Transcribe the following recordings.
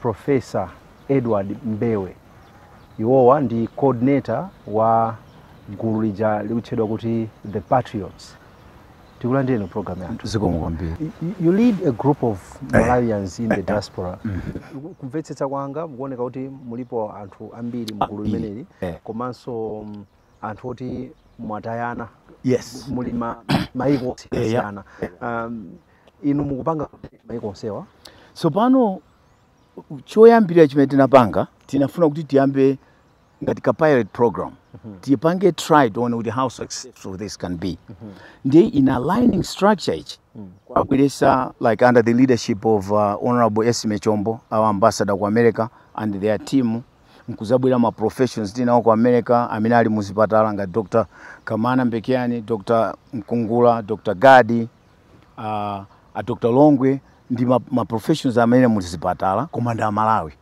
Prof. Edward Mbewe. Iwowa ndi coordinator wa gulu lija likutchedwa kuti The Patriots. Tikulandireni mu program yathu. zikomo kwambiri Y- y- You lead a group of Malawians in the diaspora. Kumvetsetsa kwanga mukuoneka kuti mulipo anthu ambiri mu gulu, Ambiri, limeneli eh. komanso mm, anthu oti mwatayana yes muli ma- maiko Eh, ya. osiyana. Um, ino mukupanga maiko onsewa tsopano choyambirira chimene tinapanga tinafuna kuti tiyambe ngati ka pilot program tipange try tione kuti how successful this can be ndi in aligning structure ichi kuwabweretsa like under the leadership of uh, honorable Esme Chombo our ambassador ku america and their team nkuzabwera ma professionals tinawo ku america amene ali muzipatala ngati dr kamana Mbekeani dr mkungula dr gadi a, a dr longwe ndi ma, ma professionals amene muli zipatala koma ndi amalawi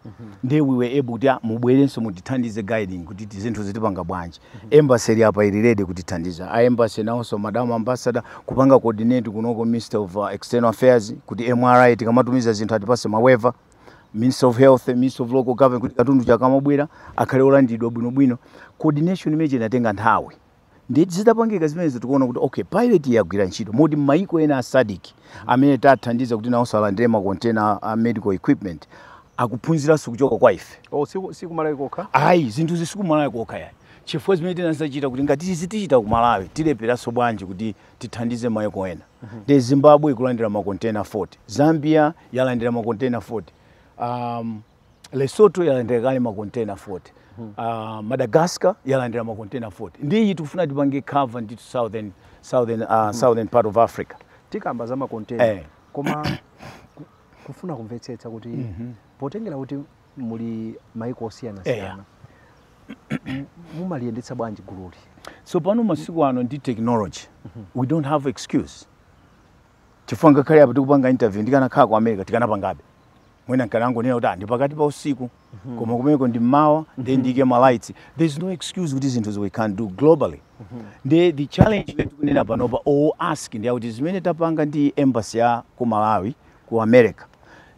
ndiye we were able kuti ah, mubwerenso mutithandize guiding kuti ti- zinthuzi tipanga bwanji embassy ili apa ili ready kutithandiza a embassy nawonso madam ambassador kupanga coordinate kunoko ministry of uh, external affairs kuti mri tikamatumiza zinthu atipatse ma waiver ministry of health ministry of local government kuti katunduyu akamabwera akhale olandidwa bwinobwino coordination imene inatenga nthawi Ndiye zitapangika zimenezo tikuona kuti okay pilot yagwira ntchito moti m'mayiko ena a SADC amene tathandiza kuti nawonso alandire makontena a medical equipment akuphunziranso kuchoka kwa ife. Oh, si, si ku Malawi kokha? Ayi, zinthuzi si ku Malawi kokha yayi. Chifukwa zimene tinazachita kuti ngati izi tichita ku Malawi tilepheranso bwanji kuti tithandize mayiko ena. Nde Zimbabwe ikulandira makontena 40, Zambia yalandira makontena 40. Um, Lesotho yalandira kale makontena 40 hmm. uh, Madagascar yalandira makontena 40 ndi iyi tikufuna tipange cover the southern, southern, uh, hmm. southern part of Africa tikamba za makontena eh. koma kufuna kumvetsetsa kuti mm -hmm. potengera kuti muli maiko osiyanasiyana eh. mumaliyendetsa bwanji gululi so pano masiku ano ndi technology mm -hmm. we don't have excuse chifukwa ngakhale apa tikupanga interview ndikanakhala ku america tikanapangabe mwina nkanangonena kuti "Ah, ndi pakati pa usiku koma kumeneko ndi mmawa nde tsopano there's no excuse kuti zinthuzi we can do globally nde the challenge imene tikunena panopa or ask ndi yakuti zimene tapanga ndi embassy ya ku malawi ku america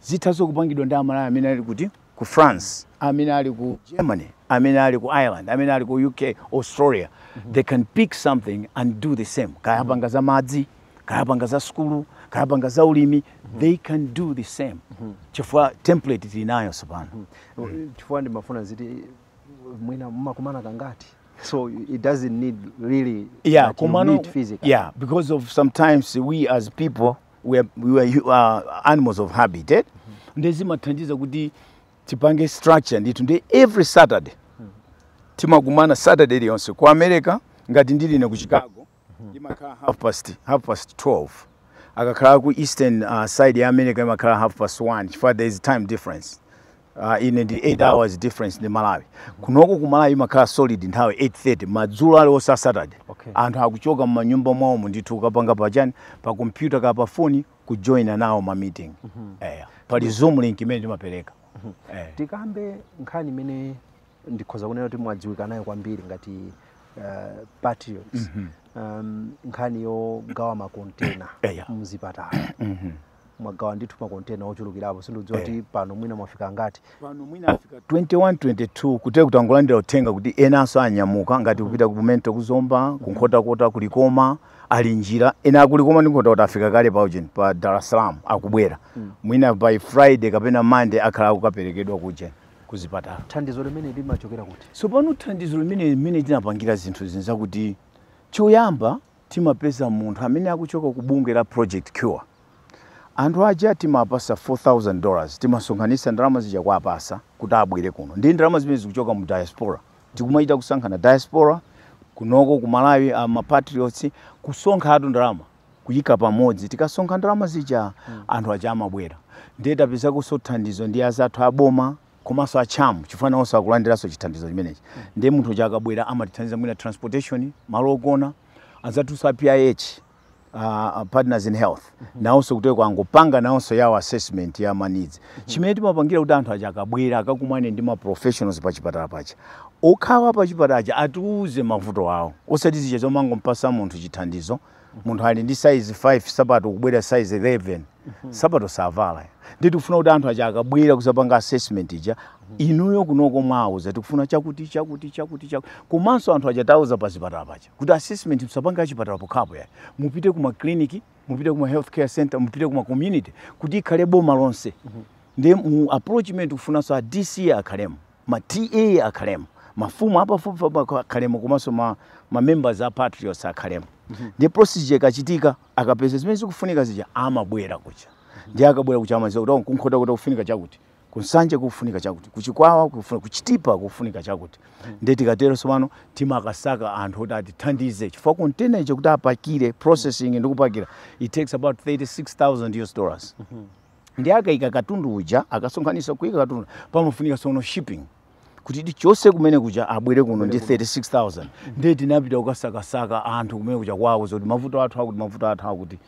zithanso kupangidwa ndi amalawi amene ali kuti ku france amene ali ku germany amene ali ku ireland amene ali ku uk australia they can pick something and do the same kaya apanga za madzi kaya apanga za sukulu kaya apanga za ulimi mhm. they can do the same mhm. chifukwa template tili nayo tsopano mhm. chifukwa ndimafuna ziti mwina mmakumana kangati so it doesn't need really yeah, kumano, meet physically. yeah because of sometimes we as people we are, we are uh, animals of habit eh? mm -hmm. ndiye zimathandiza kuti tipange structure ndithu ndi every saturday mm -hmm. timakumana saturday iliyonse ku america ngati ndili ne ku chicago imakhala half past, half past 12 akakhala ku eastern uh, side ya america imakhala half past 1 chifukwa there is time difference uh, ine ndi 8 hours difference ndi malawi kunoko ku malawi imakhala solid nthawi 830 madzulo aliwonse a saturday Okay. anthu akuchoka mmanyumba mwawomo ndithu ukapanga pachani pa kompyuta kaya pafoni kujoina nawo ma meeting eh, pali zoom link imene timapereka eh. tikambe nkhani imene ndikhoza kunena kuti mwadziwika nayo kwambiri ngati uh, patriots mm -hmm. um, nkhani yogawa makontena yeah. mzipatala mm -hmm mwagawa ndithu makontena ochulukirapo sindikudziwa kuti eh. pano mwina mwafika angati pano mwina afika 21 22 kutereku tangolandira uthenga kuti enanso anyamuka ngati mm-hmm. kupita ku mental ku zomba mm-hmm. ku nkhotakota ku likoma ali njira ena a ku likoma ndi nkhotakota afika kale pa ujeni pa dar es salaam akubwera mm. mwina by friday kapena monday akhala akukaperekedwa kujeni kuzipatala. Thandizo limene limachokera kuti? Tsopano thandizo limene mmene tinapangira zinthu zinthu nzakuti choyamba timapeza munthu amene akuchoka ku bungwe la Project Cure. Anthu aja timawapatsa 4000 dollars timasonkhanitsa ndalama zija kuwapatsa kuti abwere kuno. Ndi ndalama zimene zikuchoka mu diaspora. Tikumachita kusonkherana diaspora kunoko ku Malawi a ma patriots kusonkhatu ndalama. kuyika pamodzi tikasonkha ndalama zija mm. anthu aja amabwera ndiye tapezakonso thandizo ndi anzathu aboma komanso a cham chifukwa nawonso akulandiranso chithandizo chimenechi mm. ndiye munthu uja akabwera amatithandiza mwina transportation malo ogona anzathunso a pih uh, partners in health mm -hmm. nawonso kutereku angopanga nawonso yawo assessment ya ma needs chimene timapangira kuti anthu aja akabwera akakumane ndi maprofessionals pa chipatala paja okhawo a pa chipatala aja atiuze mavuto awo osati zija zomangompatsa munthu chithandizo munthu ali ndi size 5 sapato kubwera size 11 sapato savala ndi tikufuna kuti anthu aja akabwera kuzapanga assessment ija inuyo kunoko muwauza tikufuna chakuti chakuti chakuti chakuti komanso anthu aja tawauza pa zipatala paja kuti assessment musapange pachipatala pokhapo ayi mupite ku makliniki mupite kuma health care center mupite kuma community kuti ikhale boma lonse mhm. ndiye mu approach imene tikufunanso a dc akhalemo ma ta akhalemo mafumu apafupifupi akhalemo komanso ma, ma members a patriots akhalemo mhm. ndiye process ija ikachitika akapeza zimene zikufunika zija amabwerera kuja ndiye akabwerera kuja amadziwa kuti oh, ku nkhotakota kufunika chakuti kunsanje kukufunika chakuti kuchikwawa kukufunika kuchitipa kukufunika chakuti ndiye tikatero tsopano timakasaka anthu oti atithandize chifukwa container iyo kuti apakire processing ndi kupakira it takes about 36000 us dollars ndiye akaika katundu uja akasonkhanisa kuika katundu pamafunika tsono shipping kuti ichoke kumene kuja abwere kuno ndi 36000 ndiye tinapita kukasakasaka anthu kumene kuja kuwauza zakuti mavuto athu awa kuti mavuto athu akuti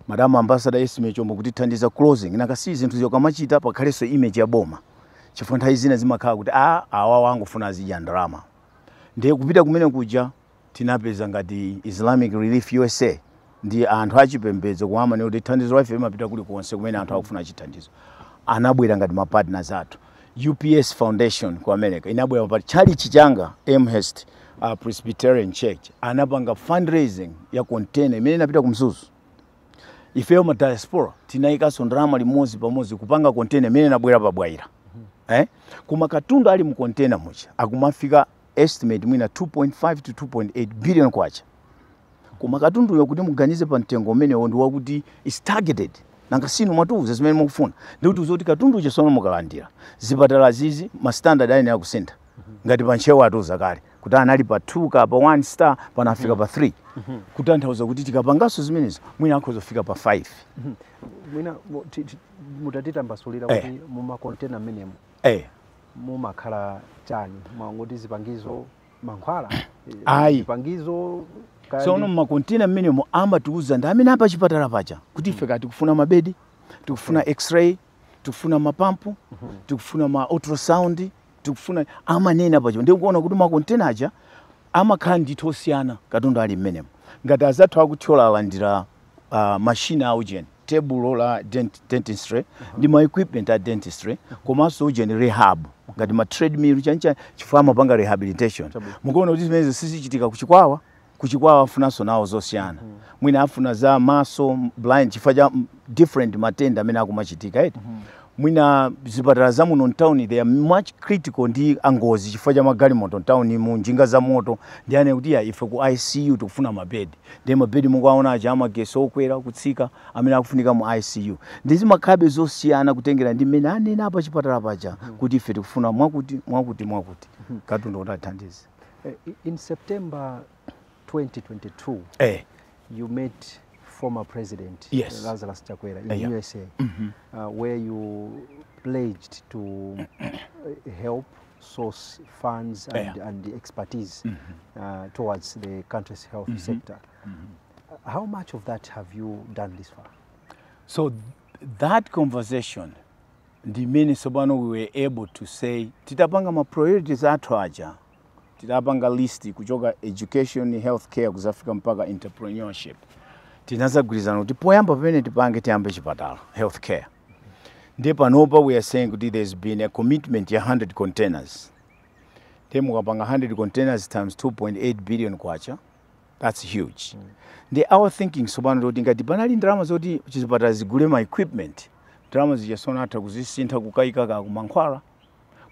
madam ambassador esme chombo kutithandiza closing nanga si zinthu zoti ukamachita pakhalenso image ya boma chifukwa nthawi zina zimakhala kuti awa angofuna azidya ndalama ndiye kupita kumene kuja Tinapeza ngati Islamic Relief usa ndi anthu a chipembedzo koma amanena kuti thandizo laife limapita kulikonse kumene anthu akufuna chithandizo. Anabwera ngati ma partners athu. UPS Foundation ku America inabwera pa tchalitchi changa Elmhurst uh, Presbyterian Church anapanga fundraising ya container imene inapita ku Mzuzu. Ifeyo ma diaspora tinayikanso ndalama limodzi pamodzi kupanga container imene inabwera pa Bwaila. Eh? Koma katundu ali mu container muja akumafika estimate mwina 2.5 to 2.8 billion kwacha koma katunduyo kuti muganize pa mtengo umenewo ndi wakuti is targeted nanga si inu mwatiuza zimene mukufuna ndikutiuza kuti katundu uja tsono mukalandira zipatalazi zi ma standard ayenera kusintha ngati pa ntcheu apa atiuza kale kuti anali pa 2 kapena 1 star pano afika pa 3 kutanthauza kuti tikapanganso zimenezo mwina akhoza kufika pa 5 mwina mu- ti- ti- mutatitambasulira Eh. kuti mumakontena amenemo eh. mumakhala chani mwangoti zipangizo mankhwala eh, Ayi. zipangizo kaya tsono ndi- mmakontena amenemo amatiuza ndi amene a pachipatala paja kuti ife kaya tikufuna mabedi tikufuna x-ray tikufuna mapampu tikufuna ma ultrasound tikufuna amanena paja ndikuona kuti makontena aja amakhala ndithu osiyana katundu ali mmenemo ngati azathu aku thyolo alandira uh, mashini a ujeni tebulo la dent, dentistry ndi ma equipment a dentistry komanso ujeni rehab ngati ma treadmill chani chani chifukwa amapanga rehabilitation mukuona kuti zimenezi sizichitika kuchikwawa kuchikwawa afunanso nawo zosiyana mwina afuna za maso blind chifukwa cha mm, different matenda amene akumachitika eti mwina zipatala za muno mtawuni they are much critical ndi a ngozi chifukwa cha magalimoto mtawuni muno njinga za moto ndiye anena kuti ah ife ku icu tikufuna mabedi ndiye mabedi mukuwaona aja amagesi okwera kutsika amene akufunika mu icu ndiye zimakhalabe zosiyana kutengera ndi mmene anena a pachipatala paja kuti ife tikufuna mwakuti mwakuti mwakuti katundu kuti athandize Eh, i- In September 2022, eh. you met former President Yes. Lazarus Chakwera in Yeah. USA, uh, where you pledged to uh, help source funds and, yeah. and the expertise mm -hmm. uh, towards the country's health mm -hmm. sector. Mm -hmm. How much of that have you done this far? So th that conversation ndimene tsopano we were able to say titapanga ma priorities athu aja titapanga list kuchoka education healthcare kuzafika mpaka entrepreneurship tinazagwirizana kuti poyamba pamene tipange tiyambe chipatala healthcare ndiye panopa we are saying kuti there has been a commitment ya 100 containers ndiye mukapanga 100 containers times 2.8 billion kwacha that's huge mm. ndi our thinking tsopano toti ngati panali ndalama zoti chizipatala zigule ma equipment ndalama zija tsopano atha kuzisintha kukayika kumankhwala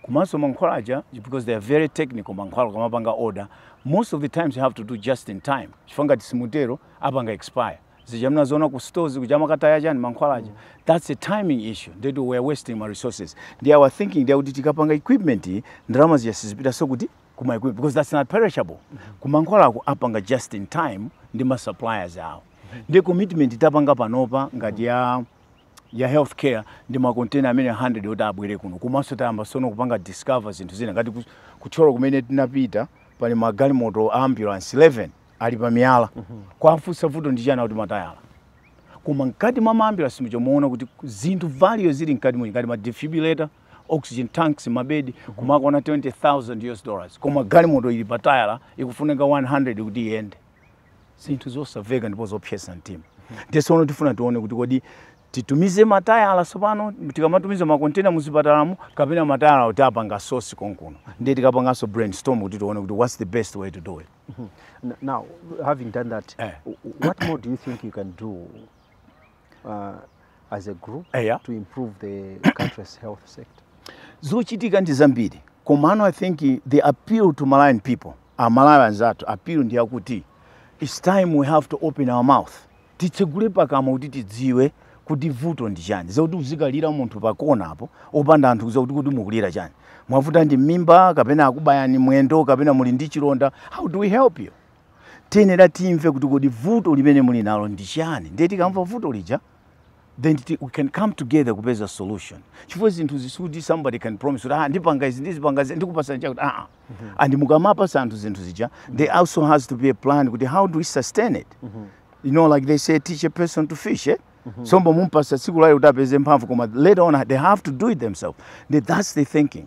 komanso mankhwala aja because they are very technical mankhwala mukamapanga order most of the times you have to do just in time chifukwa ngati simutero apanga expire zija munaziona ku stores kuja amakataya chani mankhwala aja that's a timing issue ndetu we are wasting ma resources ndi our thinking ndi kuti tikapanga equipment iyi, ndalama zija sizipitanso kuti kuma equipment because that's not perishable kumankhwala akupanga just in time ndi ma suppliers awo ndi commitment tapanga panopa ngati ya ya healthcare ndi makontena amene 100 oti abwere kuno komanso tayamba tsono kupanga discover zinthu zina ngati ku- ku thyolo kumene tinapita pali magalimoto a ambulance 11 ali pa miyala kuwafunsa vuto ndi chiyani akuti matayala koma mkati mwa maambulansi muja muona kuti zinthu value zili mkati muja ngati ma defibrillator oxygen tanks mabedi komanso akukwana 20000 us dollars koma galimoto ili pa tayala ikufunika 100 kuti iyende zinthu zosamveka ndipo zopsetsa mtima nde tsono tifuna tione kuti kodi titumize matayala tsopano tikamatumiza makontena muzipatalamu kapena matayala kuti apange source konkuno ndiye tikapanganso brainstorm kuti tione kuti what's the best way to do it N- Now, having done that, Eh. w- what more do you think you can do uh, as a group Eh, yeah. to improve the country's health sector? zochitika ndi zambiri komano i think the appeal to malawian people amalawi anzathu appeal ndi yakuti its time we have to open our mouth titsegule pakamwa kuti tidziwe kuti vuto ndi chani osati kuzikalira munthu pa kona apo opanda anthu kuuza kuti kodi mukulira chani mwavuta ndi mimba kapena akubayani mwendo kapena muli ndi chilonda how do we help you tikuyenera timve kuti kodi vuto limene muli nalo ndi chani ndiye tikamva vuto lija then titi we can come together kupeza solution chifukwa zinthu zisikuti somebody can promise kuti ah ndipanga izi ndizipanga izi ndikupatsa chakuti ah ah. and mukamapatsa anthu zinthu zija there also has to be a plan kuti how do we sustain it you know like they say teach a person to fish eh? nsomba mumpatsa tsiku loyamba kuti apeze mphamvu koma later on they have to do it themselves nde that's the thinking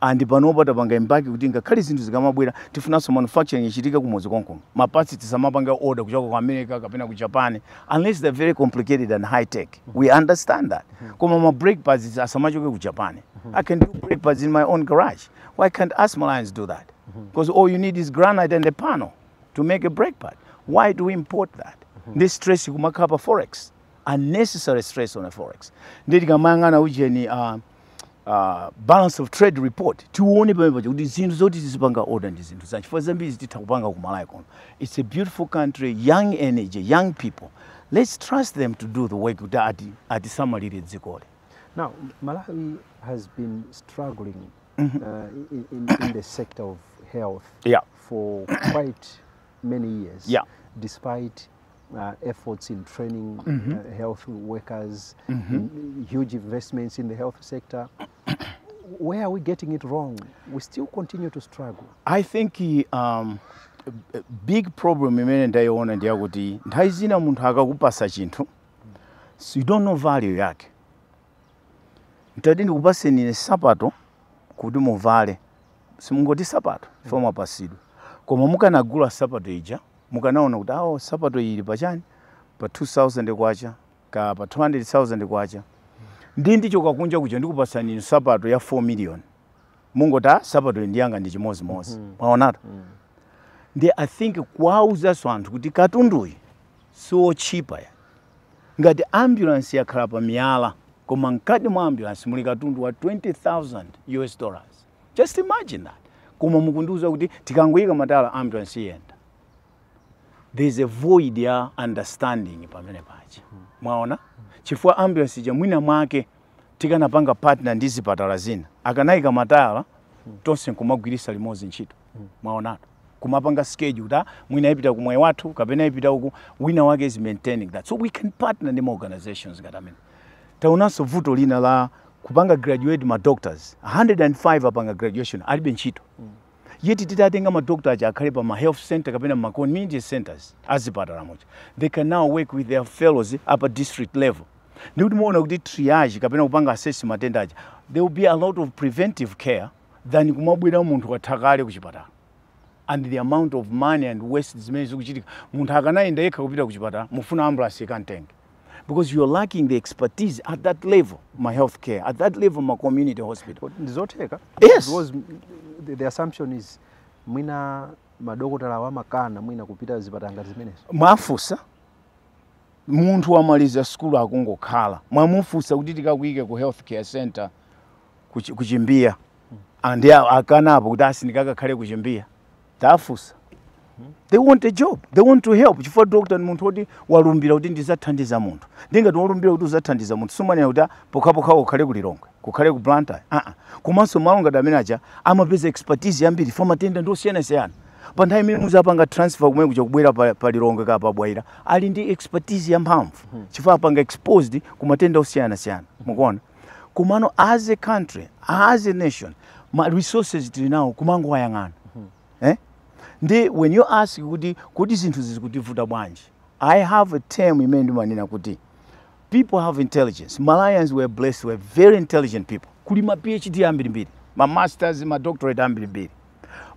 and panopa tapanga embark kuti ngakhale zinthu zikamabwera tifunanso manufacturing ichitike kumudzi konkuno ma parts tisamapange order kuchoka ku america kapena ku japan unless they're very complicated and high tech we understand that koma ma brake pads asamachoke ku japan i can do brake pads in my own garage why can't us Malawians do that because all you need is granite and a panel to make a brake pad why do we import that nde stress kumakhala pa forex unnecessary stress on our forex nde tikamayang'ana ujeni uh, uh, balance of trade report tione pamene paja kuti zinthu zoti tizipanga order ndi zinthu zanji chifukwa zambirizi titha kupanga ku malawi kuno it's a beautiful country young energy young people let's trust them to do the work kuti ati atisamalire dzikoli now malawi has been struggling mm -hmm. uh, in, in, in the sector of health yeah. for quite many years yeah. despite uh, efforts in training mm -hmm. uh, health workers, mm -hmm. huge investments in the health sector. Where are we getting it wrong? We still continue to struggle. I think um, big problem imene ndayiona ndi yakuti nthawi zina munthu akakupasa chinthu so you don't know value yake nditati ndikupaseni ine sapato kuti muvale simungoti sapato ija mwapasidwa koma mukanagula sapato ija mukanaona kuti awo sapato iyi ili pa chani pa 2000 kwacha kaya pa 200000 kwacha ndi ndichoka kunja kuja ndikupatsani inu sapato ya 4 million mungoti a sapato iyi ndiyanga ndi chimodzimodzi mwaonatu nde i think kuwauzanso anthu kuti katunduyi siwotchipa ya ngati ambulance yakhala pa miyala koma mkati mwa ambulance muli katundu wa 20000 us dollars just imagine that koma mukundiuza kuti tikangoyika matayala ambulance iyenda there's a void ya understanding pamene paja mwaona chifukwa ambulance ija mwina mwake tikanapanga partner ndi zipatala zina akanayika matayala tonse nkumagwirisa limodzi ntchito mwaona kumapanga schedule kuti ah, mwina ipita ku moyo wathu kapena ipita uku wina wake is maintaining that so we can partner ndi ma organizations ngati amene taonanso vuto lina la kupanga graduate ma doctors 105 apanga graduation alibe ntchito yeti titatenga madokta aja akhale pa ma health centers kapena ma community centers azipatala muja they can now work with their fellows up pa district level ndiye muona kuti triage kapena kupanga assess matenda aja there will be a lot of preventive care than kumabwera munthu watha kale kuchipatala and the amount of money and waste zimene zikuchitika munthu akanayenda yekha kupita kuchipatala mufuna ambulance ikamtenge because you are lacking the expertise at that level ma health care at that level ma community hospital Kodi ndizotheka Yes. because mm, the, the assumption is mwina madokotalawo amakana mwina kupita zipatala ngati zimenezo mwafunsa munthu wamaliza sukulu akungokhala mwamufunsa kuti tikakuyike ku health care center ku chi- ku chimbiya Ah, ndi a- akanapo kuti sindikakhala ku chimbiya tafusa they want a job they want to help chifukwa doctor ndi munthu woti walumbira kuti ndizathandiza munthu ndingati walumbira kuti uzathandiza munthu sumanena kuti "Ah, pokhapokha kukhale ku lilongwe kukhale ku blantyre aa komanso malo ngati amene aja amapeza expertise yambiri chifukwa matenda ndi osiyanasiyana pa nthawi imene muzapanga transfer kumene kuja kubwera pa, pa lilongwe kaya pa bwaira ali ndi expertise yamphamvu chifukwa apanga exposed ku matenda osiyanasiyana mukuona komano as a country as a nation ma resources tili nawo kumangowayang'ana hmm. eh? nde when you ask kuti kodi zinthu izi zikutivuta bwanji i have a term imene ndimanena kuti people have intelligence malawians we're blessed we're very intelligent people kuli ma phd ambirimbiri ma masters ma doctorate ambirimbiri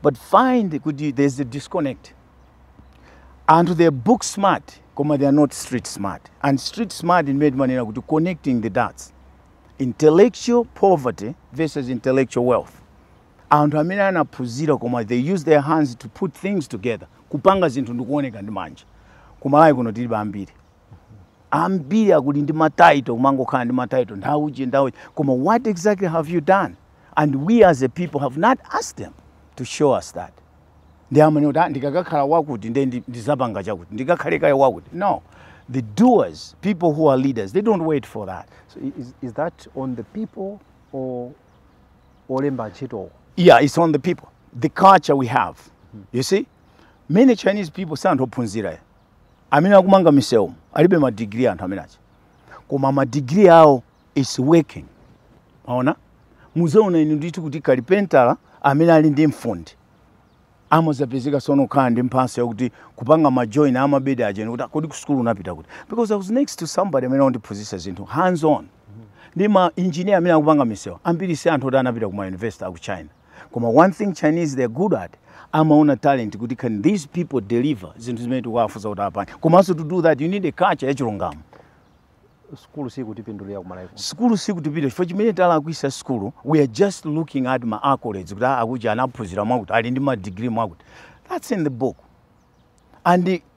but find kuti there is a disconnect anthu they are book smart koma they are not street smart and street smart ndimene timanena kuti connecting the dots intellectual poverty versus intellectual wealth anthu amene anaphunzira koma they use their hands to put things together kupanga zinthu ndikuoneka ndi manja kumalawi kuno tilibe ambiri ambiri akulu ali ndi matitle kumangokhala ndi matitle ndakuti ndakuti koma what exactly have you done and we as a people have not asked them to show us that ndiye amanena kuti "Ah, ndikakakhala wakuti nde ndizapanga chakuti ndikakhale kaye wakuti no the doers people who are leaders they don't wait for that is that on the people or olemba ntchitowo? yeah it's on the people the culture we have you see many chinese people si anthu ophunzira amene akumanga misewu alibe ma degree anthu amene aja koma ma degree awo is working mwaona muzaona inu ndithu kuti kalipentala amene ali ndi fundi amazapezeka sono kukhala ndi mphatso yakuti kupanga majoint amabedi ajeni kuti kodi kusukulu unapita kuti because i was next to somebody amene wandiphunzitsa zinthu hands on ndi ma engineer amene akupanga misewu ambiri si anthu oti anapita ku ma university aku china koma one thing chinese they're good at amaona talent kuti can these people deliver zinthu zimene tikuwafunsa kuti apange komanso to do that you need a culture yachilungamo sukulu sikutipindulira kumalawi kuno sukulu sikutipinda chifukwa chimene talakwisa sukulu we are just looking at ma accolades kuti "Ah, akuti anaphunzira mwakuti ali ndi madigiri mwakuti that's in the book and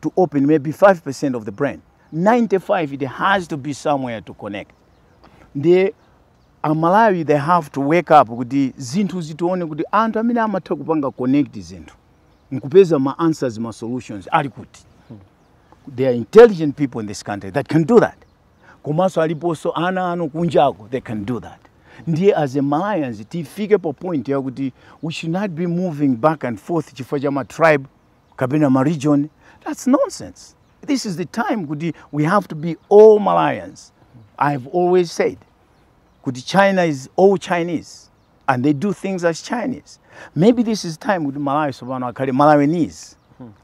to open maybe 5% of the brain 95 it has to be somewhere to connect ndiye amalawi they have to wake up kuti zinthu tizione kuti anthu amene amatha kupanga connect zinthu nkupeza ma answers ma solutions ali kuti there are intelligent people in this country that can do that komanso aliponso ana awo kunjako they can do that ndiye as a malawians tifike pa point yakuti we should not be moving back and forth chifukwa cha ma tribe kapena ma region that's nonsense this is the time kuti we have to be all malawians i have always said kuti china is all chinese and they do things as chinese maybe this is time kuti malawi tsopano akhale malawinese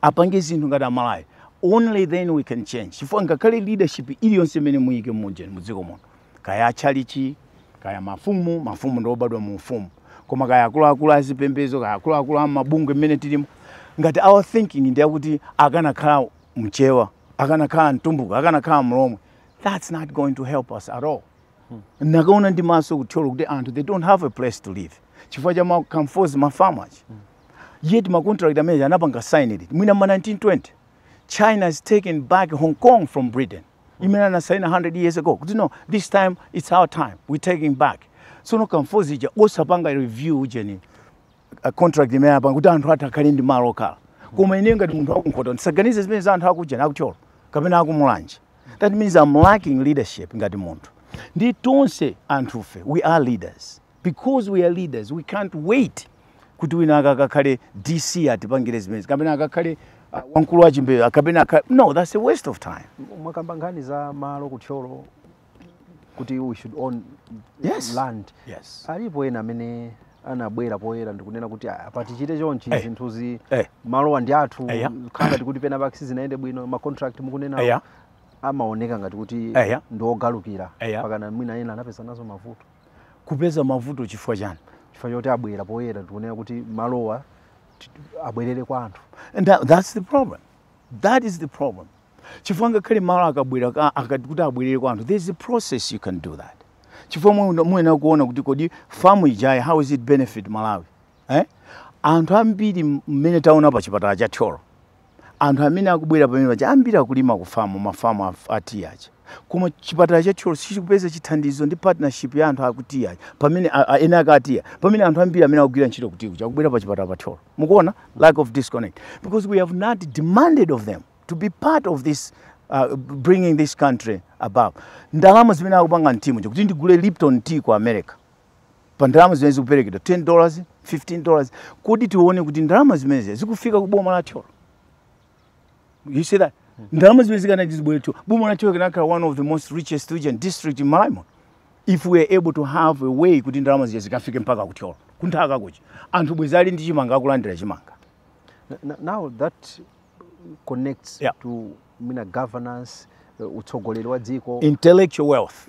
apange zinthu ngati amalawi only then we can change chifukwa ngakhale leadership iliyonse imene muyike mujeni mudziko muno kaya atchalichi kaya mafumu mafumu ndi obadwa mu ufumu koma kaya akuluakulu a zipembedzo kaya akuluakulu a mabungwe mmene tilimo ngati our thinking ndi yakuti akanakhala mchewa akanakhala mtumbuka akanakhala mlomwe that's not going to help us at all ndakaona ndi maso kuthyolo kuti anthu they don't have a place to live chifukwa cha ma comfort a ma farmers yet ma contract amene anapanga sign ndi mwina ma 1920 china has taken back hong kong from britain imene anasaina 100 years ago kuti no this time it's our time we taking back tsono ka mfundo zija osapanga review ujeni uh, contract imene apanga kuti anthu athu akhale ndi malo okhala koma ine ngati munthu waku Nkhota ndisaganize zimene za anthu akujeni aku Thyolo kapena akumulanje that means i'm lacking leadership ngati munthu ndi tonse anthufe we are leaders because we are leaders we can't wait kuti winawake akakhale dc atipangire zimenezi kapena akakhale uh, wamkulu wachimbeyo kapena aka- no that's a waste of time mwakamba nkhani za malo kuthyolo kuti we should own Yes. land yes alipo ena amene anabwera poyera ndikunena kuti "Ah, apa tichite chonchi Eh. zinthuzi Eh. malowa ndi athu Eya. khala ngati kuti penapake sizinayende bwino ma contract mukunena eya amaoneka ngati kuti Eya. ndi ogalukira Eya. pakana mwina ena anapeza nazo mavuto kupeza mavuto chifukwa chiyani chifukwa choti abwera poyera ndikunena kuti malowa ti- abwerere kwa anthu and that, that's the problem that is the problem chifukwa ngakhale malo akabwera ka- akati kuti abwerere kwa anthu there's a process you can do that chifukwa mwe- muyenera kuona kuti kodi famu ijayi how is it benefit malawi eh? anthu ambiri m- mmene taona pa chipatala cha thyolo anthu amene akubwera pamene paja ambiri akulima ku famu mafamu a, a tea aja koma chipatala cha thyolo sichikupeza chithandizo ndi partnership ya anthu aku tea aja pamene a- a- enaake a tea pamene anthu ambiri amene akugwira ntchito ku tea kuja akubwera pa chipatala pa thyolo mukuona lack of disconnect because we have not demanded of them to be part of this uh, bringing this country above ndalama zimene akupanga m'ti muja kuti ndigule lipton tea ku america pa ndalama zimene zikuperekedwa 10 dollars 15 dollars kodi tione kuti ndalama zimenezi zikufika ku boma la thyolo you see that ndalama zimene zikanati zibwere thyolo boma la thyolo likanakhala one of the most richest region district in malawi muno if we are able to have a way kuti ndalama zija zikafike mpaka ku thyolo kunthaka kuja anthu bwezi ali ndi chimanga akulandira chimanga N- n- now that connects Yeah. to governance uh, utsogoleri wa dziko intellectual wealth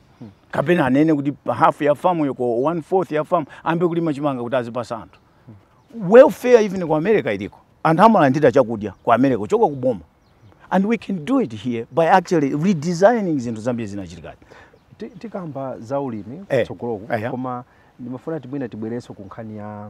kapena anene kuti half ya famu yako one fourth ya famu ayambe kulima chimanga kuti azipatsa anthu welfare even ku america iliko anthu amalandira chakudya ku america kuchoka ku boma and we can do it here by actually redesigning zinthu zambiri zinachitikazi Ti- tikamba za ulimi Eh, kutsogoloku eya. koma ndimafuna timwina tibwerenso ku nkhani ya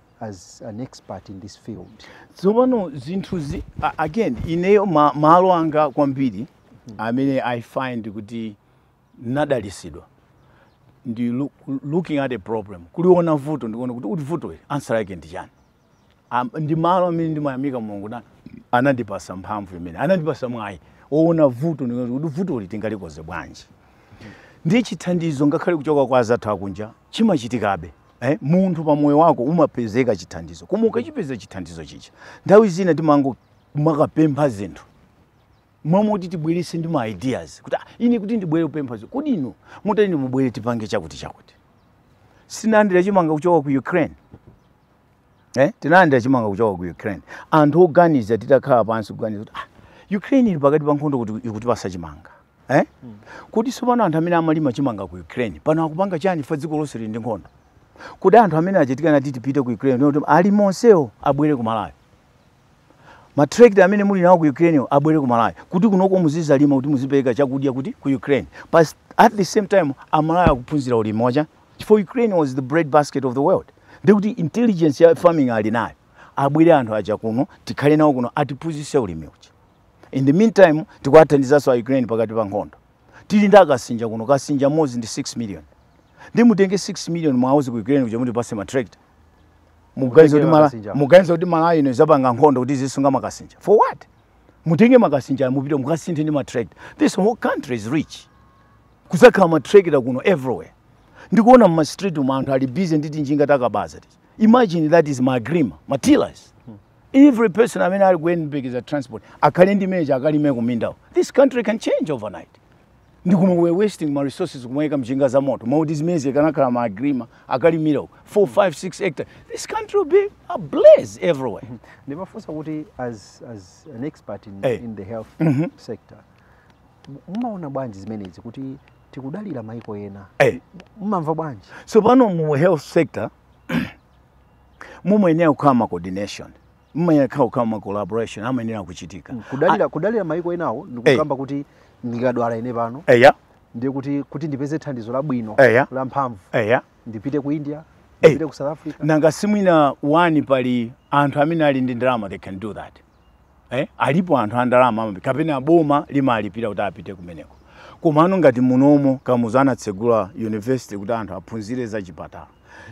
as an expert in this field tsopano zinthu zi a- again ineyo ma, malo anga kwambiri amene i find kuti ndinadalitsidwa ndi look, looking at a problem kuliona vuto ndikuona kuti kodi vuto ili answer yake ndi chani Am- ndi malo amene ndimayamika mulungu nda anandipatsa mphamvu imene anandipatsa mwayi woona vuto ndikuona kuti vuto ili tingalikonze bwanji ndi chithandizo ngakhale kuchoka kwa anzathu akunja chimachitikabe Eh, munthu pa moyo wako umapezeka chithandizo koma ukachipeza chithandizo chija nthawi zina timangomakapempha zinthu momwe kuti tibweretse ndi ma ideas kuti ah, ine kuti ndibwere kupempha zinthu kodi inu mutani mubwere tipange chakuti chakuti sinalandira chimanga kuchoka ku ukraine eh? tinalandira chimanga kuchoka ku ukraine anthu oganiza titakhala pansi kuganiza kuti ah, ukraine ili pakati pa nkhondo kuti ikutipatsa chimanga eh? mm. kuti tsopano anthu amene amalima chimanga ku ukraine pano akupanga chani poti dziko lonse lili ndi nkhondo kuti anthu amene achitikana titipite ku ukraine alimi onsewo abwere ku malawi ma tractor amene muli nawo ku Ukraine abwere ku Malawi kuti kunoko muzidzalima kuti muzipereka chakudya kuti ku Ukraine but at the same time Amalawi akuphunzira ulimi uja chifukwa Ukraine was the bread basket of the world ndikuti intelligence ya farming ali nayo abwere anthu aja kuno tikhale nawo kuno atiphunzitse ulimi uja in the meantime tikuwathandizanso a Ukraine pakati pa nkhondo tili ndi akasinja kuno kasinja modzi ndi 6 million ndiye mutenge 6 million muwauze ku Ukraine kuja mutipatse ma tractor muganiza kuti malawi ino idzapanga nkhondo kuti izisunga makasinja for what mutenge makasinja mupite mukasinthe ndi matractor this whole country is rich kudzakhala matractor kuno everywhere ndikuona m'ma street umu anthu ali busy ndi tinjinga takabaza tija imagine that is ma agrima matilas every person amene ali kuyembekeza transport akhale ndi meja akalime kumindawo this country can change overnight ndiye koma we are wasting ma resources kumayika njinga za moto mmalo moti zimenezi akanakhala ma agrima akalimira 4 5 6 hectare this country will be ablaze everywhere ndimafunsa kuti as, as an expert in, hey. Eh. in the health mm -hmm. sector mumaona bwanji zimenezi kuti tikudalira maiko ena hey. Eh. mumamva bwanji tsopano mu health sector mumayenera kukhala ma coordination mumayenera kukhala kukhala ma collaboration amayenera kuchitika mm, kudalira kudalira mayiko enawo ndikukamba kuti ndikadwala ine pano eya ndiye kuti kuti ndipeze thandizo labwino la mphamvu eya ndipite ku India ndipite ku South Africa nanga si mwina one pali anthu amene ali ndi ndalama they can do that eh alipo anthu a ndalama ambiri kapena boma limalipira kuti apite kumeneko komano ngati munomo kamuzu anatsegula university kuti anthu aphunzire za chipatala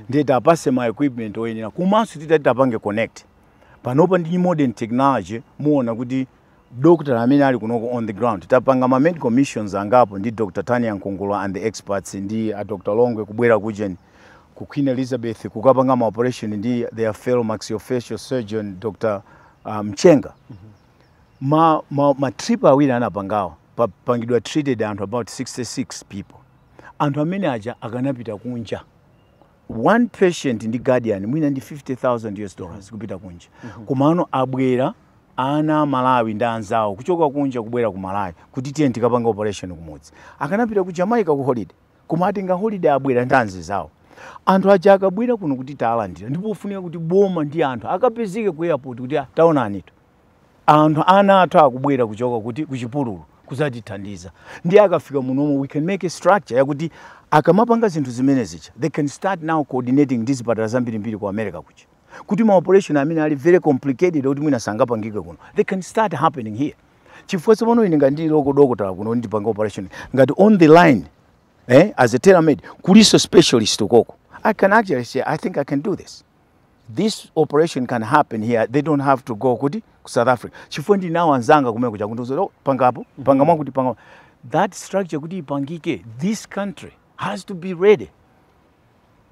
ndiye tiapatse ma equipment oyenera komanso titati tapange connect panopa ndi modern technology muona kuti dokotala amene ali kunoko on the ground tapanga ma medical missions angapo ndi dr tania nkungula and the experts ndi a dr longwe kubwera kujeni ku queen elizabeth kukapanga ma operation ndi their fellow maxillofacial surgeon dr uh, mchenga ma, ma, ma trip awiri anapangawo apangidwa treated anthu about 66 people anthu amene aja akanapita kunja one patient ndi guardian mwina ndi 50000 us dollars kupita kunja mhm. komano abwera ana a malawi ndi anzawo kuchokera kunja kubwera ku malawi kuti tiye tikapange operation kumudzi akanapita ku jamaica ku holiday koma atenga holiday abwera ndi anzizawo anthu aja akabwera kuno kuti tawalandira ndi pofunika kuti boma ndi anthu akapezeke ku airport kuti ah, taonanitu anthu ana athu akubwera kuchoka kuti kuchipululu kuzatithandiza ndiye akafika munomo we can make a structure yakuti akamapanga zinthu zimene zija they can start now coordinating ndi zipatala zambirimbiri ku america kuja kuti ma operation amene ali very complicated kuti mwina sangapangike kuno they can start happening here chifukwa tsopano ine ngati ndili local dokotala kuno ndikupanga operation ngati online eh, as a telemed kulinso specialist ukoko i can actually say i think i can do this this operation can happen here they don't have to go kuti ku south africa chifukwa ndili nawo anzanga kumene kuja akundiuza oh, pangapo panga mwakuti panga that structure kuti ipangike this country has to be ready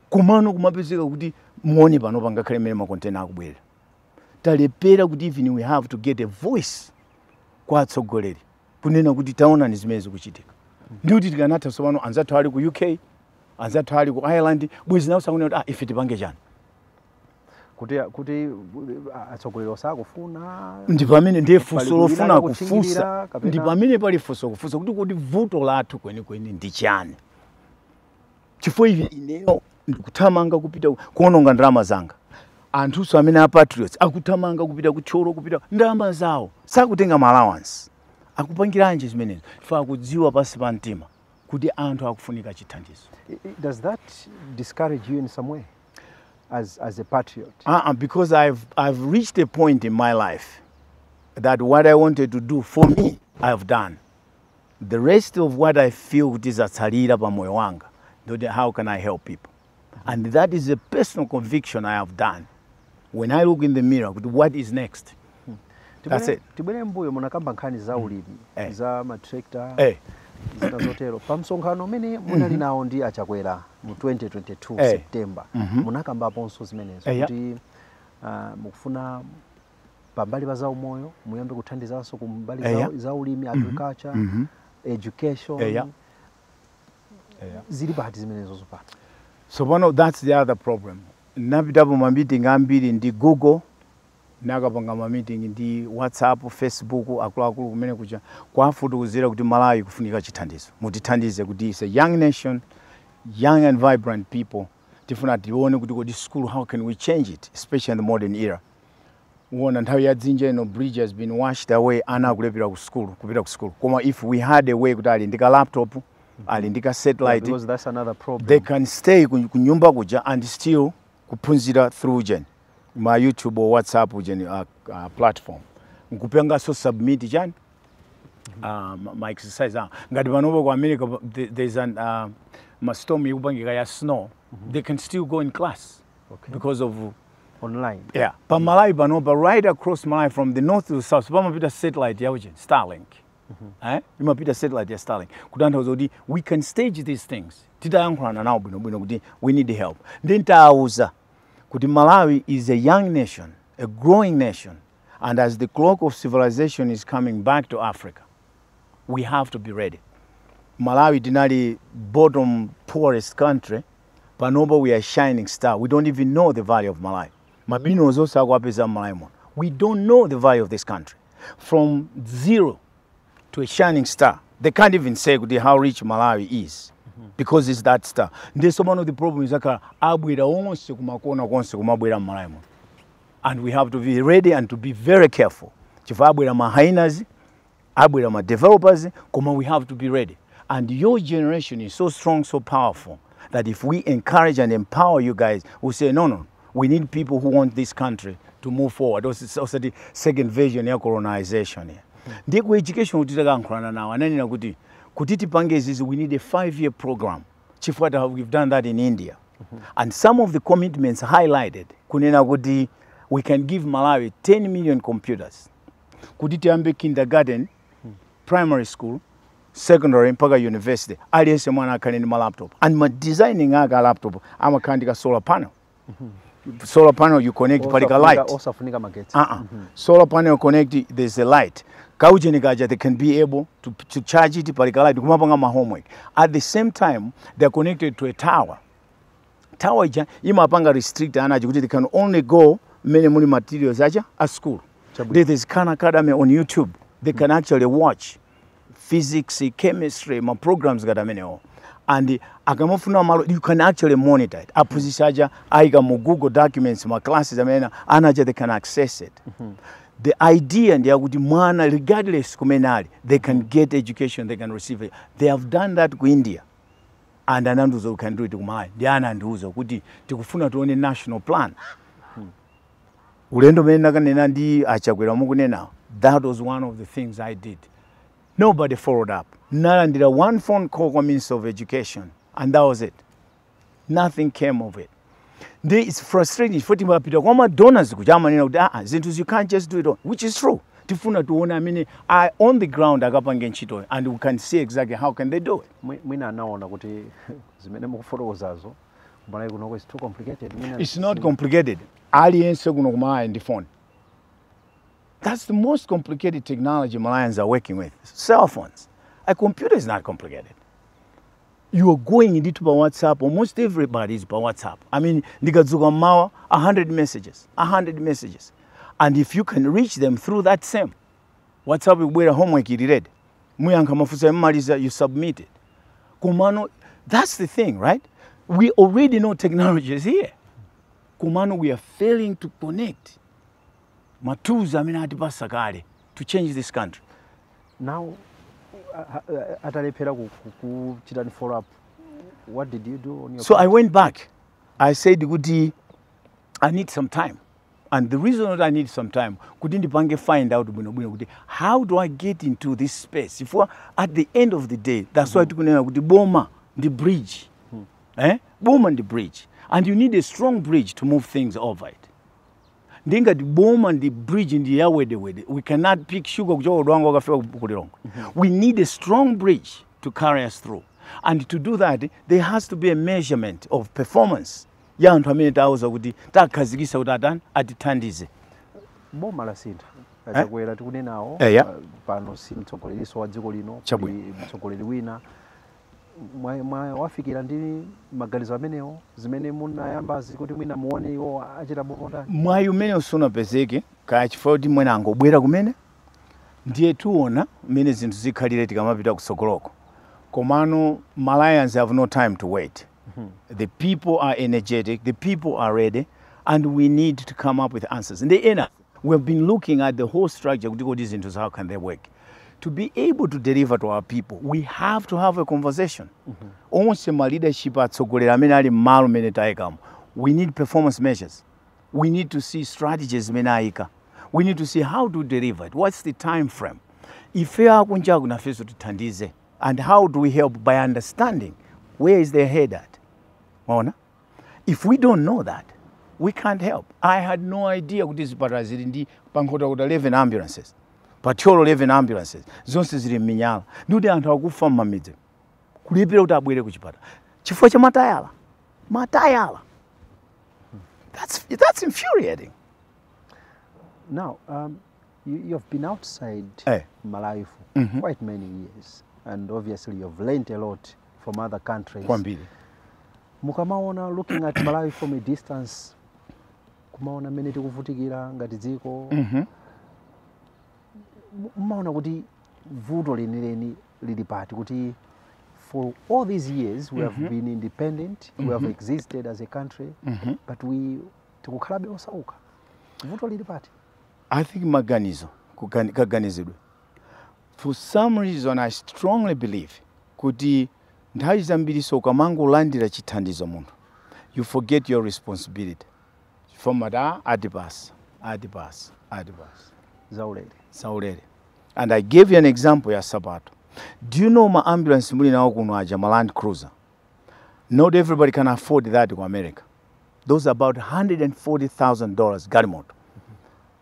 komano kumapezeka kuti muone panopo angakhale mmene makontena akubwerera talephera kuti even we have to get a voice kwa atsogoleri kunena kuti taonani zimene zikuchitika ndi kuti tikanatha tsopano anzathu ali ku uk anzathu ali ku ireland bwezi nawo akunena kuti ah, ife tipange chani kuti kuti uh, atsogoleri osakufuna ndi pamene ndiye funso pali lofuna kulira kufunsa kuchingirira kapena- ndi pamene pali funso kufunsa kuti kodi vuto lathu kwenikweni ndi chani chifukwa even ineyo ndikuthamanga kupita ku- kuononga ndalama zanga anthunso amene a patriots akuthamanga kupita ku thyolo kupita ndalama zawo sakutenga ma allowance akupangiranji zimenezo ife tikudziwa pansi pa mtima kuti anthu akufunika chithandizo does that discourage you in some way as, as a patriot uh -uh, because I've, I've reached a point in my life that what I wanted to do for me I have done the rest of what I feel kuti zatsalira pa moyo wanga how can I help people and that is a personal conviction i have done when i look in the mirror kuti what is next That's Tibwere- it. tibwere mbuyo munakamba nkhani za ulimi Eh. za matrakta Eh. zina zotero pa msonkhano umene munali nawo ndi achakwera mu 2022 Eh. september munakambaponso zimenezo Eh, ya. kuti ah, mukufuna pambali pa zaumoyo muyambe kuthandizanso kumbali Eh, za, ya. za ulimi agriculture education Eh, ya. yeah. zili pati zimenezo zopano tsopano that's the other problem napitapo mamiting ambiri ndi google nakapanga mamiting ndi whatsapp facebook akuluakulu kumene kuja kuwafotokozera kuti malawi kufunika chithandizo mutithandize kuti it's a young nation young and vibrant people tifuna tione kuti kodi school how can we change it especially in the modern era waona nthawi ya dzinja ino bridge has been washed away ana akulephera ku school kupita ku school koma if we had a way kuti ali ndi ka laptop ali ndi ka satellite because that's another problem they can stay ku ku nyumba kuja and still kuphunzira through ujeni ma youtube or whatsapp ujeni uh, uh, platform nkupanganso submit chani uh, ma- ma exercise ah. ngati panopa ku america pa- the- there's an uh, ma storm ikupangika ya snow they can still go in class okay. because of online yeah pa malawi panopa right across malawi from the north to south pamapita satellite ya ujeni starlink mm-hmm. eh? imapita satellite ya starlink kutanthauza kuti we can stage these things titayankhulana nawo bwinobwino kuti we need help nde titawauza kuti malawi is a young nation a growing nation and as the clock of civilization is coming back to africa we have to be ready malawi tinali bottom poorest country panopa we are shining star we don't even know the value of malawi ma billions onse akuwapeza mmalawi muno we don't know the value of this country from zero to a shining star they can't even say kuti how rich malawi is because it's that star ndiye sopano the problem is akhala abwera onse kumakona konse kumabwera mmalawi muno and we have to be ready and to be very careful chifukwa abwera ma hyenas abwera ma developers koma we have to be ready and your generation is so strong so powerful that if we encourage and empower you guys we say no no we need people who want this country to move forward Osi- osati second version ya colonization ya. ndi ku education kuti takankhulana nawo ananena kuti kuti tipange izizi we need a five year program chifukwa ta- we've done that in india and some of the commitments highlighted kunena kuti we can give malawi 10 million computers kuti tiyambe kindergarten, primary school, secondary mpaka university aliyense mwana akhale ndi ma laptop and ma designing ake a laptop amakhala ndi ka solar panel solar panel you connect pali ka light Osafunika osafunika magetsi uh -uh. solar panel connect there's a light kaujeni kaja they can be able to, to charge it pali ka light kumapanga ma homework at the same time they're connected to a tower tower ija imapanga restrict ana aja kuti they can only go mmene muli materials aja a school Chabwino. There- there's Khan academy on youtube they can actually watch physics chemistry ma programs ngati amenewo and akamafuna malo you can actually monitor it aphunzitsi aja aika mu google documents ma classes amene ana aja they can access it the idea ndi yakuti mwana regardless kumene ali they can get education they can receive it they have done that ku india and anandiuza we can do it ku malawi ndiye anandiuza kuti tikufuna tione national plan ulendo umene ndakaonana ndi a Chakwera mukunenawo that was one of the things i did nobody followed up nalandira one phone call kwa minister of education and that was it nothing came of it nde it's frustrating chifukwa timapita kwa ma donors kuja amanena kuti aa zinthu you can't just do it all which is true tifuna tione amene are on the ground akapange ntchitoyo and we can see exactly how can they do it Mwi- mwina anaona kuti zimene mukufotokozazo Malawi kunoko is too complicated Mwina it's not complicated aliyense kuno ku malawi ali ndi phone that's the most complicated technology malawians are working with cell phones a computer is not complicated You are going ndithu pa WhatsApp, almost everybody is pa WhatsApp. I mean, ndikadzuka mmawa, 100 messages, 100 messages. And if you can reach them through that same WhatsApp, ikubwera homework ili ready. Muyankha mafunso yamaliza, you submit it. Kumano, that's the thing, right? We already know technology is here. Kumano, we are failing to connect matools amene atipasa kale to change this country. Now, a- a- atalephera ku- ku- kuchitani follow up, what did you do on your So part? I went back. I said kuti I need some time. And the reason that I need some time kuti ndipange find out bwino bwino kuti how do I get into this space? Chifukwa at the end of the day that's why tikunena kuti boma ndi bridge. Eh? Boma ndi bridge. And you need a strong bridge to move things over it. ndiye ngati boma ndi bridge ndi ya wedewede we cannot pick sugar kuchoka ku Dwangwa kukafika ku- ku lilongwe we need a strong bridge to carry us through and to do that there has to be a measurement of performance ya anthu amene tawauza kuti takhazikisa kuti atani atithandize boma lasintha a Chakwera tikunenawo Eya. uh, pano si mtsogolerinso wa dziko lino Chabwino. ndi mtsogoleri wina mwawafikira ndi maganizo amenewo zimene mwayambazi kuti mwina muone iwo achita bwanji mwayi umene usunapezeke kaya chifukwa kuti mwina angobwera kumene ndiye tiona mmene zinthu zikhalire tikamapita kutsogoloko komano Malawians have no time to wait mhm. the people are energetic the people are ready and we need to come up with answers ndi ena We have been looking at the whole structure kuti kodi zinthu how can they work to be able to deliver to our people we have to have a conversation onse ma leadership atsogoleri amene ali mmalo mmene tayikamo we need performance measures we need to see strategies zimene ayika we need to see how to deliver it what's the time frame ife akunjaku nafenso tithandize and how do we help by understanding where is their head at mwaona if we don't know that we can't help i had no idea kuti zipatala zili ndi pa Nkhotakota 11 ambulances pa Thyolo 11 ambulances zonse zili m'miyala ndikuti anthu akufa m'mamidzi kulephera kuti abwere ku chipatala chifukwa cha matayala matayala that's, that's infuriating now um, you, you have been outside Eh. malawi for quite many years and obviously you have learned a lot from other countries kwambiri mukamaona looking at malawi from a distance kumaona mmene tikuvutikira ngati dziko Mhm. mu- mumaona kuti vuto lenileni lili pati kuti for all these years we have been independent we have existed as a country but we tikukhalabe osauka vuto lili pati i think maganizo kugani- kaganizidwe For some reason I strongly believe kuti nthawi zambirinso ukamangolandira chithandizo munthu you forget your responsibility chifukwa mumati ah atipasa, atipasa, atipasa, zaulere, zaulere and I gave you an example ya sapato. Do you know ma ambulance muli nawo kuno aja ma land cruiser? Not everybody can afford that ku America. Those are about $140,000 galimoto.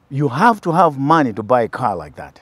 You have to have money to buy a car like that.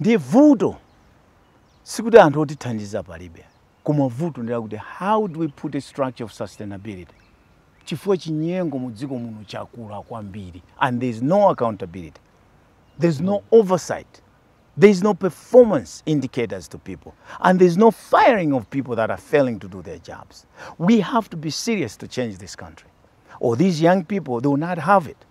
ndi vuto sikuti anthu otithandiza palibe koma vuto ndi lakuti how do we put a structure of sustainability chifukwa chinyengo mu dziko muno chakula kwambiri and there is no accountability there is no oversight there is no performance indicators to people and there is no firing of people that are failing to do their jobs we have to be serious to change this country or these young people they will not have it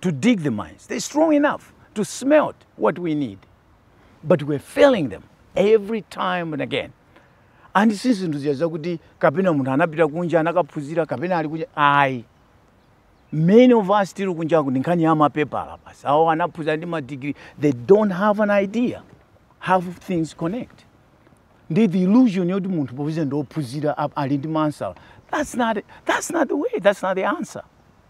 to dig the mines. They're strong enough to smelt what we need. But we're failing them every time and again. And si zinthu zija zakuti kapena munthu anapita kunja anakaphunzira kapena ali kunja ayi many of us tili kunjaku ndi nkhani ya mapepala basi awo anaphunzira ndi madigiri they don't have an idea how things connect ndi the illusion yoti munthu popeza ndi ophunzira ap- ali ndi ma answer that's not, that's not the way that's not the answer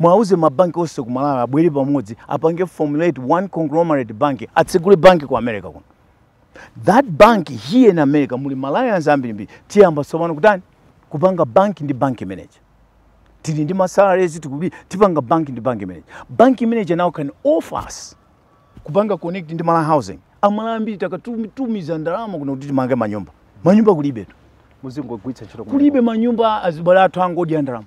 Mwauze ma bank onse ku Malawi abwere pamodzi apange formulate one conglomerate bank atsegule bank ku America kuno. That bank here in America muli Malawians ambirimbiri tiyamba tsopano kutani kupanga bank ndi bank manager. Tili ndi masalaries tipanga bank ndi bank manager. Bank manager now can offer us kupanga connect ndi Malawi housing. Amalawi ambiri takatumiza ndalama kuno kuti timange manyumba. Manyumba kulibe tu. Muzingogwitsa ntchito, kulibe manyumba azibale athu angodya ndalama.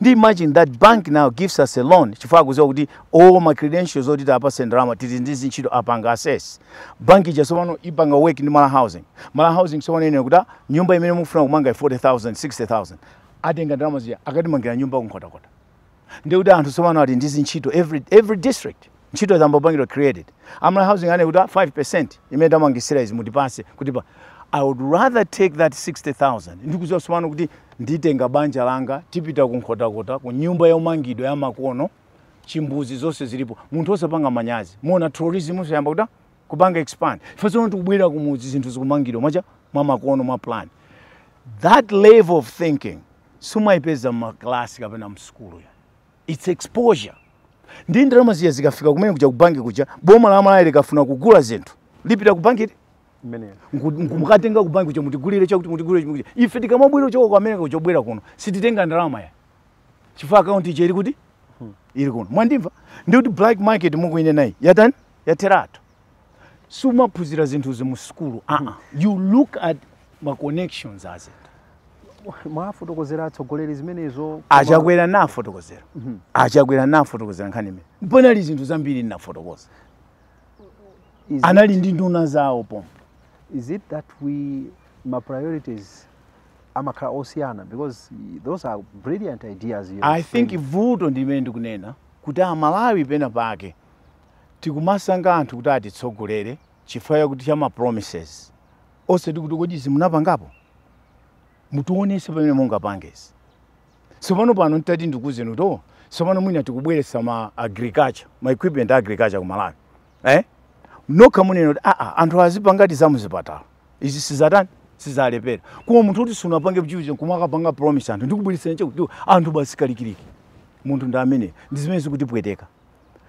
ndi imagine that bank now gives us a loan chifukwa akuziwa kuti all my credentials oti atipase ndalama tili ndi zintchito apanga assess bank ija tsopano ipanga work ndi Malawi housing Malawi housing tsopano inene kuti ah, nyumba imene mukufuna kumanga 40000 60000 atenga ndalama zija akatimangira nyumba kunkhotakota ndikuti anthu tsopano ali ndi zintchito every, every district ntchito zayamba kupangidwa created a Malawi housing anene kuti 5% imene tamangisira izi mutipase kuti pa i would rather take that 60000 ndikuziwa sumano kuti nditenga banja langa tipita ku nkhotakota ku nyumba yomangidwa ya makono chimbuzi zonse zilipo munthu osapanga manyazi muona tourism iyamba kuda kupanga expand ife tsono tikubwera kumudzi zinthu zikumangidwa mwacha mwa makono mwa plan that level of thinking sumaipeza mmaklasi kapena msukulu ya its exposure ndi ndalama zija zikafika kumene kuja kubanki kuja boma la malawi likafuna kugula zinthu lipita ku banki ukatenga ku banki kuja mutigulire chakuti mutigulire chimwe kuja ife tikamabwera kuchoka ku america kuja kubwera kuno sititenga ndalama ya chifukwa akaunti ija ili kuti hmm. ili kuno mwandimva ndi kuti black market mukuinenayi yatani yatheratu sumaphunzira zinthuzi mu sukulu aa ah. you look at ma connections a zinthu mwafotokozera atsogoleri zimenezo achakwera nafotokozera mhm. achakwera nafotokozera nkhani imene panali zinthu zambiri ndinafotokoza anali ndi nduna zawo pompo is it that we ma priorities amakhala osiyana because those are brilliant ideas i think vuto ndi limene ndikunena kuti amalawi pena pake tikumasankha anthu kuti atitsogolere chifukwa chakuti cha ma promises osati kuti kodi izi munapangapo mutionese pamene mungapange izi tsopano pano ntati ndikuuzeni kuti oh tsopano mwina tikubweretsa ma agriculture ma equipment a agriculture ku malawi eh? nokha munena kuti aa anthu azipangati za muzipatala izi sizatani sizalepera koma munthu kuti sunapange chilichonse kumakapanga promise anthu ndikubweretsa chakuti anthu basi kalikiliki munthu ndi ameneyu ndi zimene zikutipweteka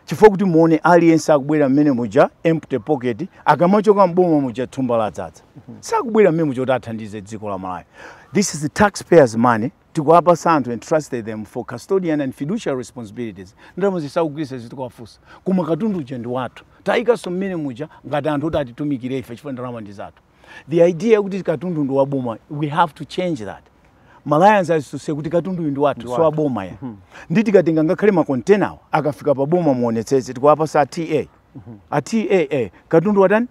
chifukwa kuti muone aliyense akubwera mmene muja empty pocket akamachoka mboma muja thumba ladzadza sakubwera mmene muja kuti athandize dziko la malawi this is the taxpayers money tikuwapasa anthu entrusted them for custodian and fiduciary responsibilities ndalama sakugwiritsa sitikuwafunsa koma katundu uja ndi wathu tawayikanso mmene muja ngati anthu oti atitumikire ife chifukwa ndalama ndi zathu the idea yakuti katundu ndi waboma we have to change that Malawians aziziwe kuti katundu uyu ndi wathu so aboma ya mhm. ndi tikatenga ngakhale makontenawo akafika pa boma muonetsetse tikuwapasa data mhm. data katundu watani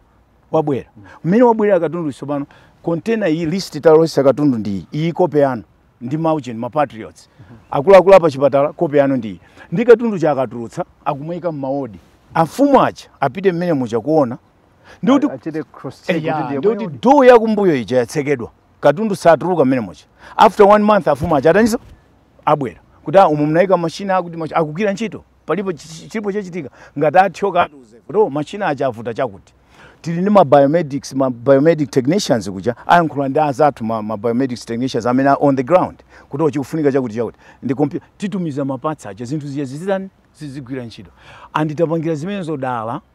wabwera mhm. mmene wabwerera katundu tsopano kontena iyi list talosesa katundu ndi iyi iyi kope yanu ndi inu mapatriots akuluakulu a pachipatala kope yanu ndi iyi ndi katundu uja akatulutsa akumayika mmawodi amfumu aja apite mmene muja kuona ndikuti achite cross check kuti eya ndiye ndikuti mwini door yakumbuyo ija yatsekedwa katundu satuluka mmene muja after one month amfumu aja ataniso abwera kuti ah, umu munayika mashina akuti machi- akugwira ntchito palipo chi- chi- chilipo chachitika ngati atchoka atiuze kuti "Oh, mashina aja avuta chakuti tili ndi ma biomedics ma biomedic technicians kuja ayankhula ndi azathu ma, ma biomedics technicians amene are on the ground kuti oh chikufunika chakuti chakuti ndi kompyu- titumiza maparts aja zinthu zija zizitani zizigwira ntchito and tapangira zimenezo dala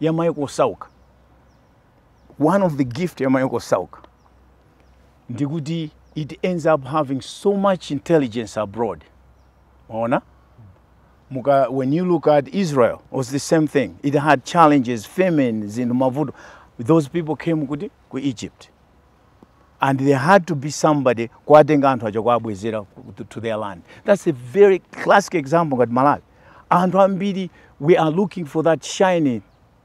ya maiko osauka one of the gift ya maiko osauka ndikuti it ends up having so much intelligence abroad mwaona muka, when you look at israel was the same thing it had challenges famine zina ndi mavuto those people came kuti ku egypt and there had to be somebody kuwatenga anthu aja kuwabwezera to their land that's a very classic example ngati malawi anthu ambiri we are looking for that shiny,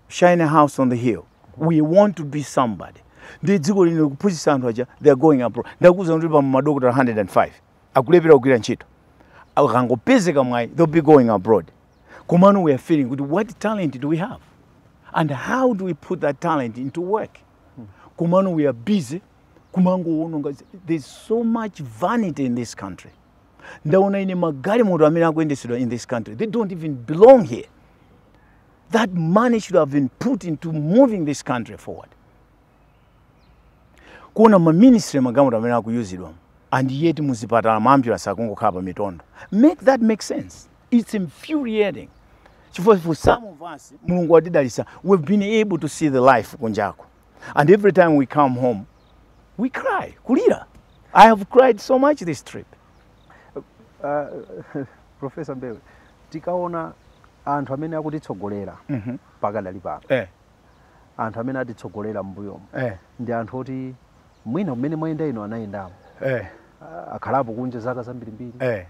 shiny house on the hill we want to be somebody ndi dziko lino likuphunzitsa anthu aja they are going abroad ndakuuzani kuti pali madokotala 105 akulephera kugwira ntchito ukangopezeka mwayi they'll be going abroad komano we are feeling kuti what talent do we have and how do we put that talent into work komano we are busy kumangowononga there's so much vanity in this country ndaona ine magalimoto amene akuyendesedwa in this country they don't even belong here that money should have been put into moving this country forward kuona maminister magalimoto amene akuyuzidwa and yet muzipatala maambulance akungokhala pa mitondo make that make sense It's infuriating. Chifukwa for some of us, Mulungu watidalisa, we've been able to see the life kunjako. And every time we come home, we cry, kulira. I have cried so much this trip. Uh, Professor Mbewe, tikaona anthu amene akutitsogolera mm -hmm. pakadali pano eh. anthu amene atitsogolera m'mbuyomo eh. ndi anthu oti mwina mumene mwayenda inu anayendamo eh. akhalapo kunja zaka zambirimbiri eh.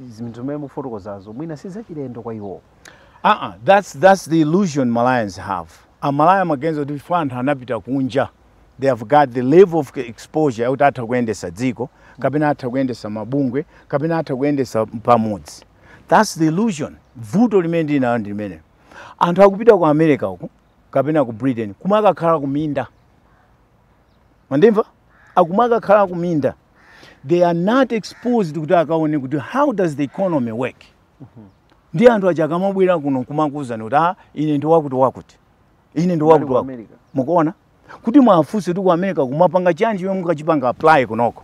zimene zimene mufotokozazo mwina si zachilendo kwa iwo aa that's, that's the illusion malawians have amalawi amaganiza kuti chifukwa anthu anapita kunja they have got the level of exposure yakuti atha kuyendesa dziko kapena atha kuyendesa mabungwe kapena atha kuyendesa pamodzi that's the illusion vuto limene tili nalo ndi limenelo anthu akupita ku america uku kapena ku britain kumene akakhala kuminda mandimva akumwe akakhala kuminda they are not exposed kuti akaone kuti how does the economy work ndi anthu aja akamabwera kuno kumakuuzani kuti ah ine ndi wakuti wakuti ine ndi wakuti wakuti mukuona kuti muwafunse kuti ku america mumapanga chani chomwe mukachipanga apply kunoko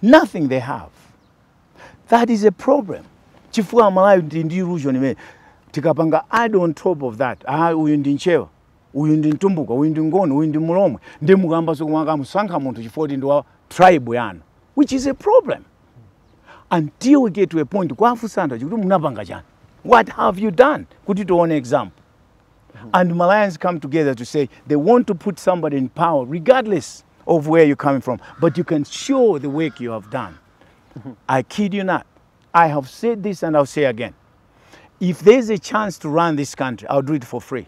nothing they have that is a problem chifukwa amalawi ndi ndi illusion imene tikapanga add on top of that ah uyu ndi mchewa uyu ndi mtumbuka uyu ndi ngoni uyu ndi mulomwe ndiye mukayamba zoti kumamusankha munthu chifukwa choti ndi wa tribe yanu which is a problem until we get to a point kuwafunsa anthu aja kuti munapanga chani what have you done kuti tione example and Malawians come together to say they want to put somebody in power regardless of where you're coming from, but you can show the work you have done. I kid you not. I have said this and I'll say again. If there's a chance to run this country, I'll do it for free.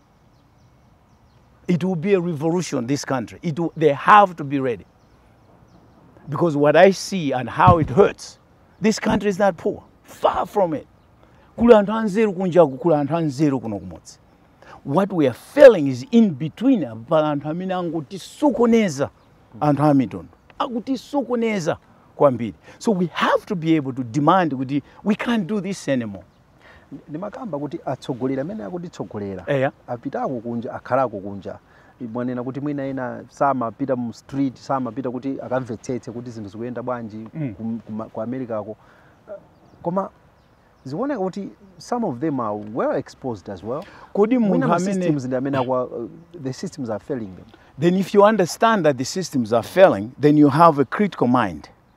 It will be a revolution, this country. It will, they have to be ready. Because what I see and how it hurts, this country is not poor. Far from it. Kuli anthu anzeru kunjaku, kuli anthu anzeru kuno kumudzi. What we are failing is in between apa pali anthu amene akungotisokoneza anthu a mitundu. Akutisokoneza kwambiri. So we have to be able to demand kuti we can't do this anymore. ndimakamba kuti atsogoleri amene akutitsogolera eya apitako kunja akhalako kunja mwanena kuti mwina ena samapita mu street samapita kuti akamvetsetse kuti zinthu zikuyenda bwanji Mm. kum- kuma- ku americako koma zikuoneka kuti some of them are well exposed as well kodi mwina munthu amene ma systems ndi amene akwa uh, the systems are failing them then if you understand that the systems are failing then you have a critical mind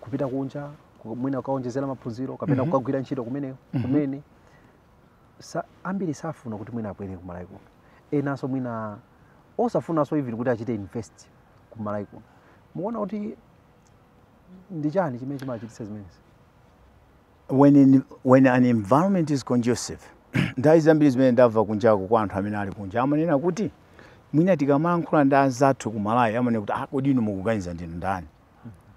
kupita kunja ku- mwina kukawonjezera maphunziro kapena kukagwira ntchito kumene kumene sa, ambiri safuna kuti mwina abwere ku malawi kuno enanso mwina osafunanso even kuti achite invest ku malawi kuno mukuona kuti ndi chani chimene chimachititsa zimenezi when, in, when an environment is conducive nthawi zambiri zimene ndamva kunjako kwa anthu amene ali kunja amanena kuti mwina tikamalankhula ndi anzathu ku malawi amanena kuti ah, kodi inu mukuganiza ndinu ndani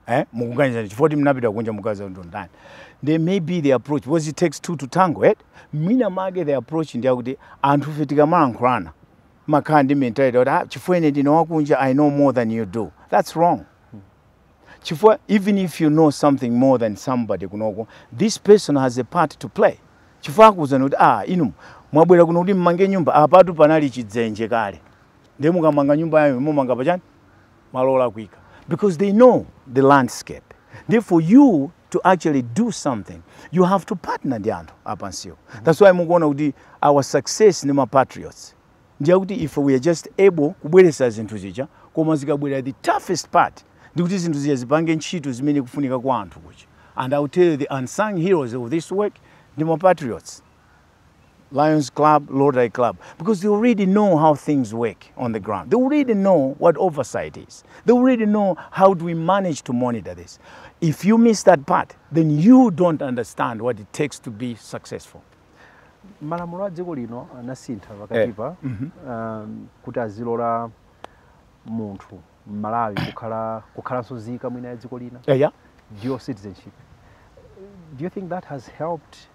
eh mukuganiza chifukwa kuti munapita kunja mukaza ndinu ndani then maybe the approach because it takes two to tango eh mwina mwake the approach ndi akuti anthu fe tikamalankhulana timakhala ndi mentality kuti ah, chifukwa ine ndine wakunja i know more than you do that's wrong chifukwa even if you know something more than somebody kunoko this person has a part to play chifukwa akuwuzani kuti ah inu mwabwera kuno kuti mumange nyumba apatu panali chidzenje kale ndiye mukamanga nyumba yanuyo mumanga pachani malo olakwika because they know the landscape ndiye for you to actually do something you have to partner ndi anthu apansiwo mm-hmm. that's why mukuona kuti our success ndi mapatriots ndiye kuti ife we are just able kubweretsa zinthu zija koma zikabwera the toughest part ndikuti zinthu zija zipange ntchito zimene zikufunika kwa anthu kuja and i will tell you the unsung heroes of this work ndi mapatriots Lions Club, Lodi Club, because they already know how things work on the ground. They already know what oversight is. They already know how do we manage to monitor this. If you miss that part, then you don't understand what it takes to be successful. malamulo a dziko lino anasintha pakatipa eh. mm -hmm. um, kuti azilora munthu mmalawi kukhala kukhalanso zika mwina ya dziko lina yeah, yeah. dual citizenship do you think that has helped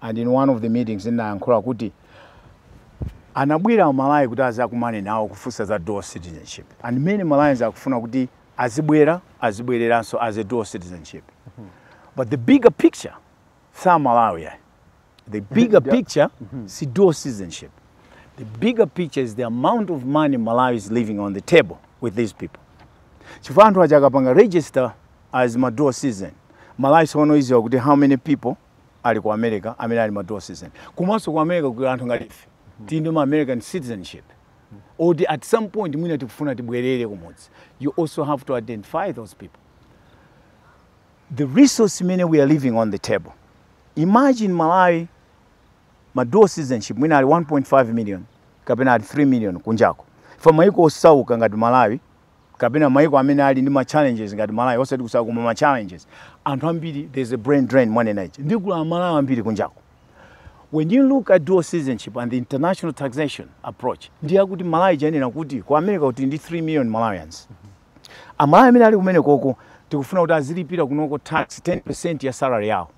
and in one of the meetings ndinayankhula kuti anabwera amalawi kuti azakumane nawo kufunsa za dual citizenship and many malawians akufuna kuti azibwera azibwereranso as a dual citizen but the bigger picture sa Malawi ayi. the bigger picture si dual citizenship the bigger picture is the amount of money malawi is leaving on the table with these people chifukwa anthu aja akapanga register as ma dual citizen malawi tsono idziwa kuti how many people ali ku america amene ali ma dual citizen komanso ku america kuli anthu ngati ife tili ndi ma american citizenship oti at some point mwina tikufuna tibwerere kumudzi you also have to identify those people the resource imene we are leaving on the table imagine malawi ma dual citizenship mwina ali 1.5 million kapena ali 3 million kunjako for maiko osauka ngati malawi kapena maiko amene ali ndi ma challenges ngati Malawi osati kusauka koma ma challenges anthu ambiri there's a brain drain mwanena ija ndi kuti amalawi ambiri kunjako when you look at dual citizenship and the international taxation approach ndi akuti Malawi chayenera kuti ku America kuli ndi 3 million Malawians amalawi amene ali kumene koko tikufuna kuti azilipira kunoko tax 10% ya salary yawo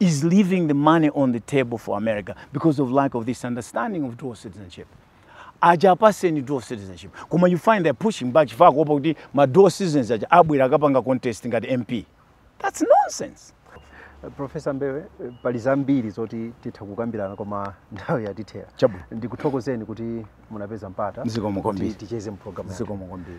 is leaving the money on the table for America because of lack of this understanding of dual citizenship. aja apaseni dual citizenship koma you find they're pushing back chifukwa kuopa kuti ma dual citizens aja abwera akapange contest ngati mp that's nonsense profesa mbewe pali zambiri zoti titha kukambirana koma nthawi yatithera Chabwino. ndikuthokozeni kuti munapeza mpata Zikomo kwambiri. kuti ticheze mpulogalamu zikomo kwambiri